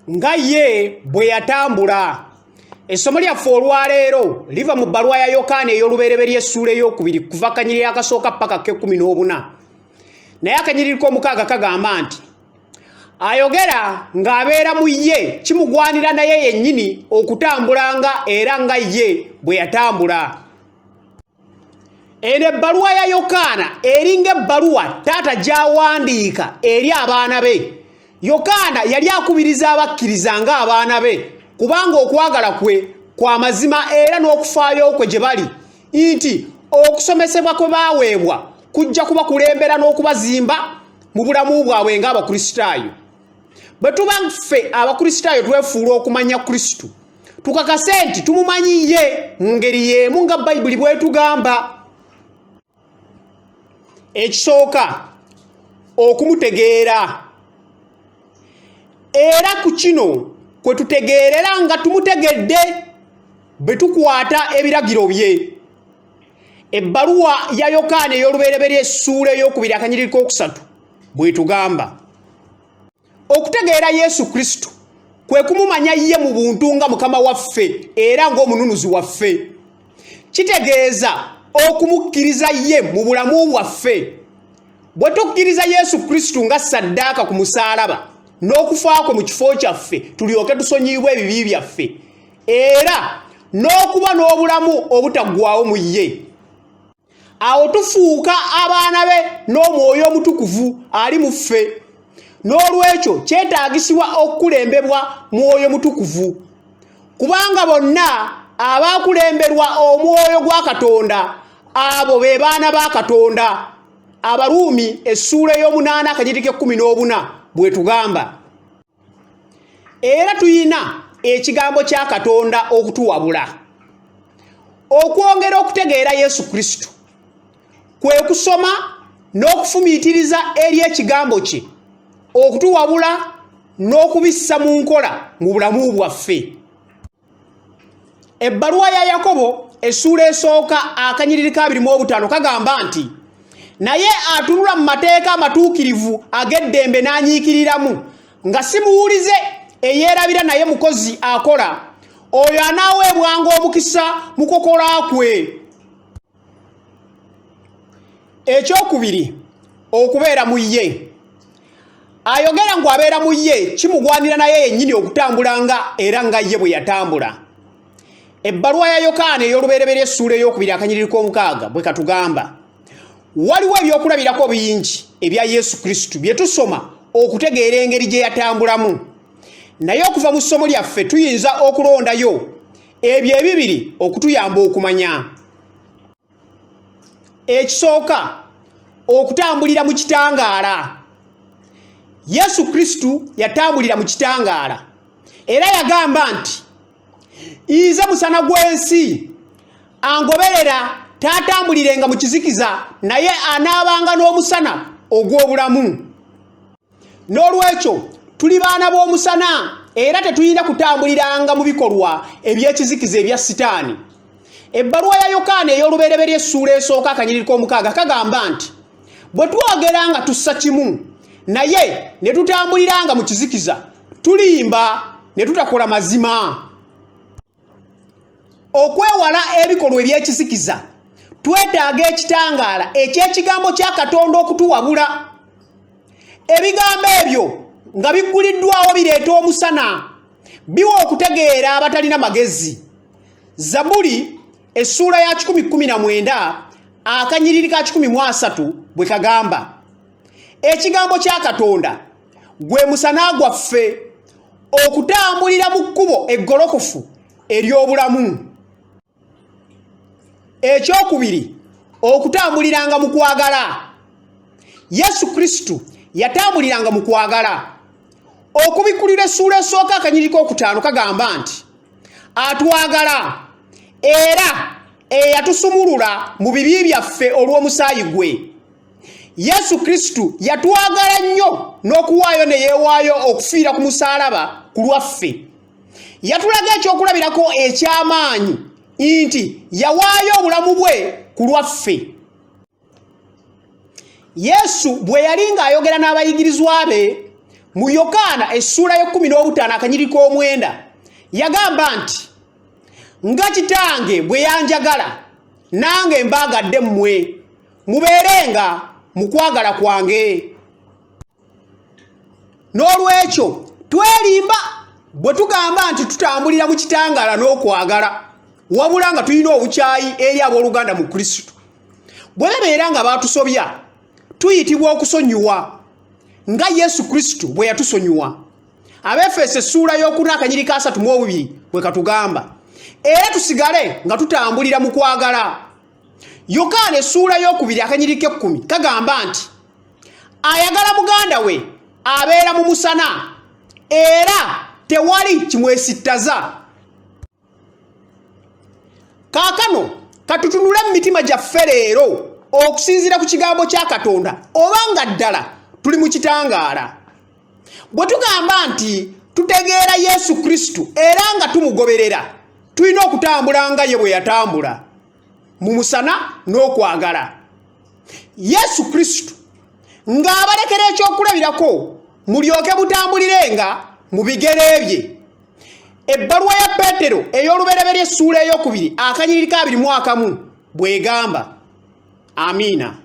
nga ye bwe yatambula essomo lyaffe olwaleero liva mu bbaluwa ya yokaana ey'olubereberye essuula ey'okubiri kuva kanyiriri akasooka paka k'ekkumi n'obuna naye akanyiriri k'omukaaga kagamba nti ayogera ng'abeera mu ye kimugwanira naye yennyini okutambulanga era nga ye bwe yatambula eno ebbaluwa ya yokaana eringa ebbaluwa taata gy'awandiika eri abaana be yokaana yali akubiriza abakkiriza ng'abaana be kubanga okwagala kwe kwa mazima era n'okufaayo kwe gye bali nti okusomesebwa kwe baaweebwa kujja kubakulembera n'okubazimba mu bulamu bwabwe ng'abakristaayo bwe tuba ffe abakristaayo twefuula okumanya kristo tukakase nti tumumanyi ye mu ngeri y'emu nga bayibuli bwetugamba ekisooka okumutegeera era ku kino kwe tutegeerera nga tumutegedde bwe tukwata ebiragiro bye ebbaluwa ya yokaana ey'olubereberye essuula ey'okubiri akanyiriri k'okusatu bwetugamba okutegeera yesu kristo kwe kumumanya ye mu buntu nga mukama waffe era ng'omununuzi waffe kitegeeza okumukkiriza ye mu bulamu bwaffe bwe tukkiriza yesu kristo nga saddaaka ku musaalaba n'okufa kwe mu kifo kyaffe tulyoke tusonyiyibwa ebibi byaffe era n'okuba n'obulamu obutaggwawo mu ye awo tufuuka abaana be n'omwoyo omutukuvu ali mu ffe n'olwekyo kyetaagisibwa okukulembebwa mwoyo mutukuvu kubanga bonna abaakulemberwa omwoyo gwa katonda abo be baana ba katonda abaruumi essuula ey'omunaana akajitiko ekkumi n'obuna bwetugamba era tulina ekigambo kya katonda okutuwabula okwongera okutegeera yesu kristo kwe kusoma n'okufumiitiriza eri ekigambo kye okutuwabula n'okubissa mu nkola mu bulamu bwaffe ebbaluwa ya yakobo essuula esooka akanyiriri ka birimu obutaano kagamba nti naye atunula mu mateeka amatuukirivu ag'eddembe n'anyiikiriramu nga si muwulize eyeerabira naye mukozi akola oyo anaaweebwanga omukisa mu kukola kwe ekyokubiri okubeera mu ye ayogera ngu abeera mu ye kimugwanira naye yennyini okutambula nga era nga ye bwe yatambula ebbaluwa ya yokaana ey'olubereberye essuula ey'okubiri akanyiriri k'omukaaga bwe katugamba waliwo ebyokulabirako bingi ebya yesu kristo bye tusoma okutegeera engeri gye yatambulamu naye okuva mu ssomo lyaffe tuyinza okulondayo ebyo ebibiri okutuyamba okumanya ekisooka okutambulira mu kitangaala yesu kristo yatambulira mu kitangaala era yagamba nti nze musana gw'ensi angoberera taatambulirenga mu kizikiza naye anaabanga n'omusana ogw'obulamu n'olwekyo tuli baana b'omusana era tetulina kutambuliranga mu bikolwa eby'ekizikiza ebya sitaani ebbaluwa ya yokaana ey'olubereberye essuula esooka akanyiriri k'omukaaga kagamba nti bwe twogera nga tussa kimu naye ne tutambuliranga mu kizikiza tulimba ne tutakola mazima okwewala ebikolwa ebyekisikiza twetaaga ekitangaala ekyekigambo kya katonda okutuwabula ebigambo ebyo nga bigguliddwawo bireeta omusana biwa okutegeera abatalina magezi zabuli essuula ya 119 akanyiriri ka 13 bwe kagamba ekigambo kya katonda gwe musana gwaffe okutambulira mu kkubo eggolokofu ery'obulamu ekyokubiri okutambuliranga mu kwagala yesu kristo yatambuliranga mu kwagala okubikulira essuula esooka akanyiriko okutaano kagamba nti atwagala era eyatusumulula mu bibi byaffe olw'omusaayi gwe yesu kristo yatwagala nnyo n'okuwaayo ne yeewaayo okufiira ku musaalaba ku lwaffe yatulaga ekyokulabirako eky'amaanyi nti yawaayo obulamu bwe ku lwaffe yesu bwe yali ng'ayogera n'abayigirizwa be mu yokaana essuula y'ekkumi n'obutaano akanyiri k'omwenda yagamba nti nga kitange bwe yanjagala nange mbaagadde mmwe mubeerenga mu kwagala kwange n'olwekyo twerimba bwe tugamba nti tutambulira mu kitangaala n'okwagala wabula nga tulina obukyayi eri abooluganda mu kristo bwe babeera nga baatusobya tuyitibwa okusonyiwa nga yesu kristo bwe yatusonyiwa abefeesa essuula y'okuna akanyiri ka asatu mu obubiri bwe katugamba era tusigale nga tutambulira mu kwagala yokaana essuula y'okubiri akanyiri k'ekkumi kagamba nti ayagala muganda we abeera mu musana era tewali kimwesittaza kaakano katutunule mu mitima gyaffe leero okusinziira ku kigambo kya katonda oba nga ddala tuli mu kitangaala bwe tugamba nti tutegeera yesu kristo era nga tumugoberera tulina okutambula nga ye bwe yatambula mu musana n'okwagala yesu kristo ng'abalekera ekyokulabirako mulyoke mutambulire nga mu bigere bye ebbaluwa ya peetero ey'olubereberye essuula eyokubiri akanyiriri ka biri mwakamu bw'egamba amiina